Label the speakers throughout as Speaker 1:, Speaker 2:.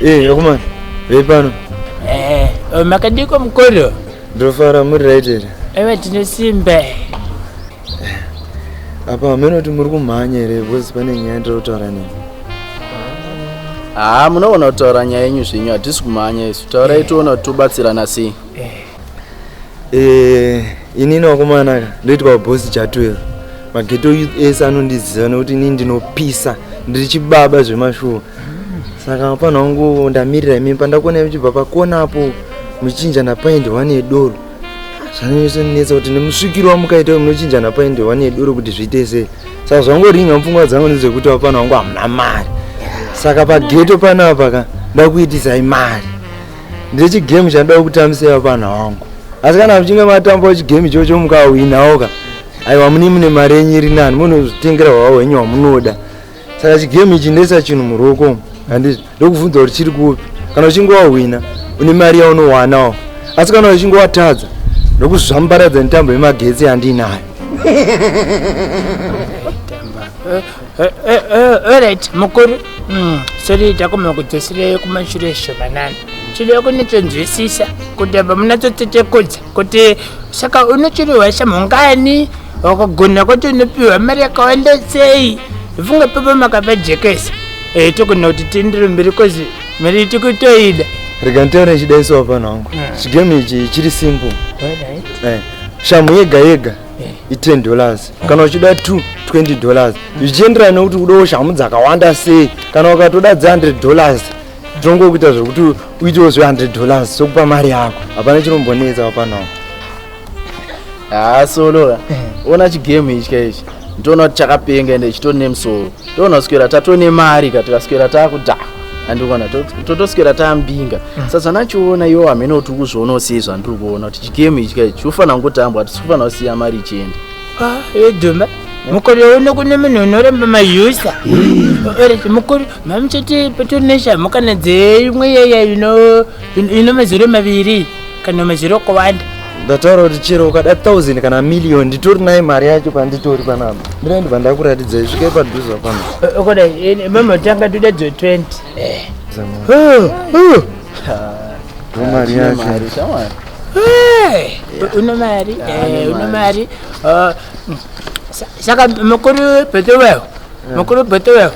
Speaker 1: Hey, eh, akomana vei pano eh, oh,
Speaker 2: makadiko mukoro ndofara muri
Speaker 1: right here ewe tine
Speaker 2: simba eh,
Speaker 1: apa hameno kuti muri kumhanya here because pane nyaya ndiri kutaura nemi haa
Speaker 3: ah, munogona kutaura nyaya yenyu zvenyu hatisi kumhanya isu taurai tiona kuti tobatsirana sei Eh,
Speaker 1: inini wakomana ka ndoitwa bosi cha 12 mageto youth ese anondiziva nekuti inini ndinopisa ndiri chibaba zvemashuwa saka pana wangu ndamirira imimi pandakuona muchibva pakona apo muchinja napaindi one yedoro zvanonyesonetsa kuti nemusvikiro wamukaita munochinja napaindi one yedoro kuti zviite sei saka zvangoringa mupfungwa dzangu ndezvekuti wapana wangu hamuna mari saka pageto panapa ka ndakuitisai mari ndechi game chandoda kukutambisa iva pana wangu asi kana muchinge matamba chi game chocho mukawinawoka aiwa mune mune mari yenyu iri nani munozvitengera hwawo hwenyu wamunoda saka chi game ichi ndoisa chinhu muruoko handizvo ndokubvunza kuti chiri kupi kana uchinge wahwina une mari yaunowanawo asi kana uchinge watadza ndokuzvambaradza netambo yemagetsi yandiinayo
Speaker 2: Eh, eh, eh, alright mukuru mm, sori takoma kudzosirei kumashure shomanana tinoda kunitsonzwisisa kuti apa munatsotsetekodza kuti saka unochiriwa shamhongani wakagona kuti unopiwa mari yakawanda sei funga pepa makapajekesa e, togona kuti tiendere mberi kozi mari tikutoida rega ntaure
Speaker 1: chidaiso wapana wangu hmm. chigame ichi chiri simple shamhu yega yega i10 dollars kana uchida 2 20 dollars zvichienderana nekuti udawo shamhu dzakawanda sei kana ukatoda dze 100 dollars tinongokuita zvekuti uitewo zve 100 dollars sokupa mari yako hapana chinombonetsa wapanawo haa solo eh. ona
Speaker 3: chigame ichi kaichi ndinoona kuti chakapenga ende chitone musoro toona kuswera tatone mari ka tikaswera takudhakwa andikona totoswera tambinga mm. sa zvanachiona iwo hamene kuti ukuzviona usei zvandiri kuona kuti chigemu ichi ka ichi ufanira kungotambwa hatisi kufanira kusiya mari ichienda edhuma
Speaker 2: ah, mukore uno kune munhu unoramba mayusa oriti mukore mamuchiti petonation mukana dzeimwe yeya ino mazore maviri kanome zviro kuwanda ndataura kuti chero
Speaker 1: ukada 1000 kana million nditori naye mari yacho panditori panapa ndira ndibva ndakuratidza isvike padhuza pano okoda mama
Speaker 2: tanga toda dze 20
Speaker 1: mari yacho
Speaker 2: uno mari uno mari saka mukuru bhetowewo mukuru bhetowewo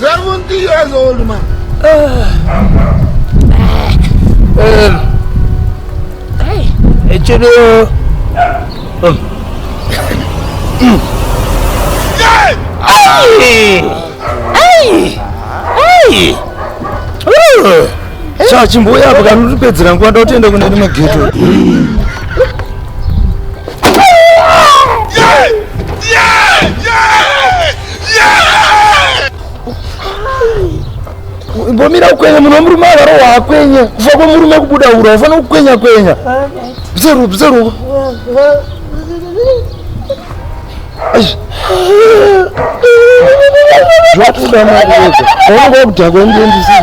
Speaker 4: 70 years old man.
Speaker 2: Echedo.
Speaker 1: Sha chimbuya apa kanotipedzera nguva nda kutienda kune rimwe geto. imbomira kukwenya munhu wemurume avaro waakwenya kufa kwemurume kubuda ura wafana kukwenya kwenya bzeru bzeru zvatoda makuedza aunenge wakudhakwa ndiendisii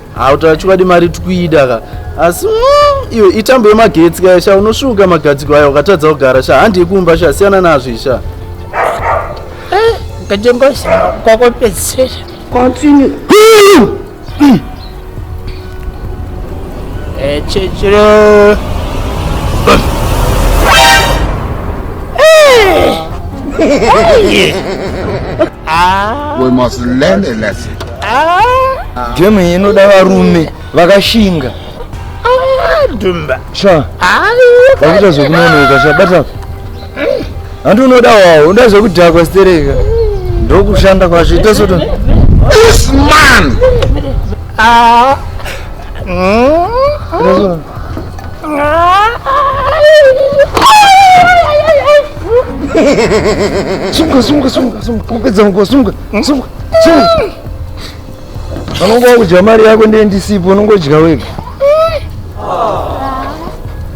Speaker 3: hautaura chokwadi mari tikuida ka asi mm, iwe itambo yemagetsi kaya sha unosvuka magadziko aya ukatadza kugara sha handi yekumba sha siyana nazvo isha eh,
Speaker 2: ngachingozama kwakopedzisira continue eh, chechiro
Speaker 4: We must learn a lesson. Ah.
Speaker 1: Game iyi inoda varume vakashinga. Ah,
Speaker 2: Dumba. Sha.
Speaker 1: Vakuita zvekunonoka sha bata. Hanti unoda wawo, unoda zvekudhakwa stereka. Ndokushanda kwacho ita soto. This
Speaker 4: man. Ah. Mm. Sunga sunga sunga
Speaker 1: sunga kupedza nguva sunga. Anongo wakudya mari yako ndiye ndisipo unongodya wega.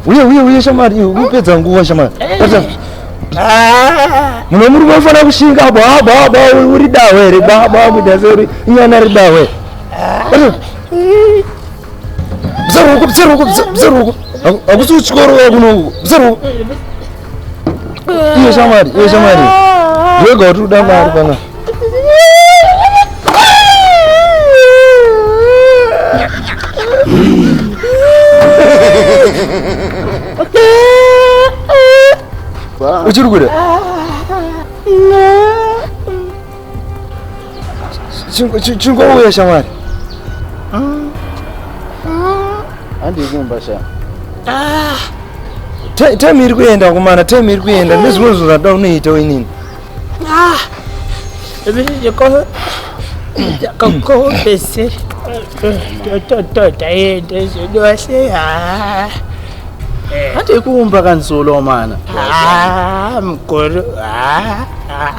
Speaker 1: Uye uye uye shamari unopedza nguva shamari. Pata. Muno muri kufanira kushinga bwa bwa bwa uri dawe here bwa bwa kuita seri inyana ri dawe. Pata. Bzeruko bzeruko bzeruko. Akusi uchikoro kuno bzeruko. Iye shamwari, iye shamwari. Yega kuti uda mari kana. Uchiri kuda? chingouya shamwari
Speaker 3: handii kumba sha ah.
Speaker 1: time iri kuenda kumana time iri kuenda ah. nezvimwe zvinhu zvada unoita inini ah.
Speaker 2: kakopese totototaende zvedose
Speaker 3: handii kuumba kanzolo mana
Speaker 2: mukuru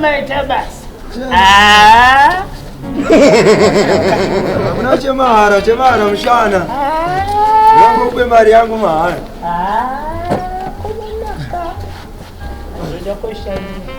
Speaker 2: Maita basa. Ah. Hamuna
Speaker 1: chemahara, chemahara mushana. Ndakube ah. mari yangu mahara. Ah. Ndoda kushandisa.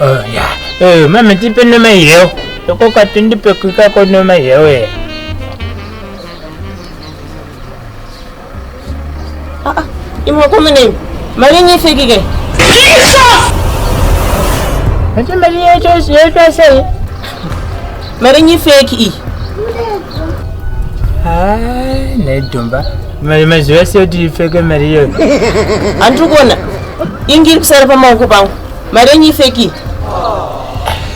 Speaker 3: Oh,
Speaker 2: yeah. Eh, mama tipe noma yeo. Loko ka tindi pe kuka ko noma yeo e. Ah, ah.
Speaker 5: Imwa ko mene. Mali ni fiki ke. Ati
Speaker 2: mali ya cho si ya cho sai.
Speaker 5: Mali ni fiki i.
Speaker 2: Ah, ne domba. Mali maziwa si oti fiki mali yeo. Antu
Speaker 5: kona. Ingiri kusara pa mawoko pangu. Mari yenyu ifeki.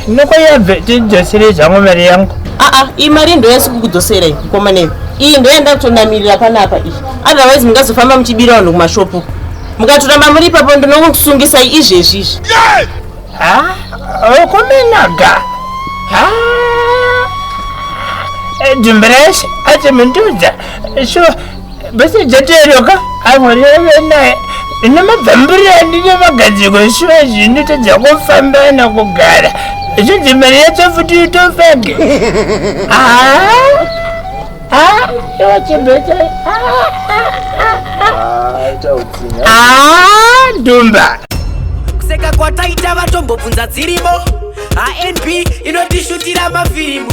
Speaker 5: Ndinokoya
Speaker 2: bvetidzoserei zvangu mari yangu. Aa, ah, ah, iyi mari ndo
Speaker 5: yasi kukudzoserai mukoma nei. Iyi ndo yanda kutonamirira panapa iyi. Otherwise mungazofamba muchibira vanhu kumashopu. Mukatoramba muri ipapo ndinokusungisai izvezvi izvi. Ha?
Speaker 2: Okumenaga. Ha? Dumbrese atimundudza. Sure. bese jatoeroka amureve naye ine mabvambiri andine magadziko shuwa zvinotadza kufamba na kugara zvinzi mari yacho futi itofake iwe chibete dumba kuseka
Speaker 6: kwataita vatombobvunza dzirimo anb inotishutira mafirimu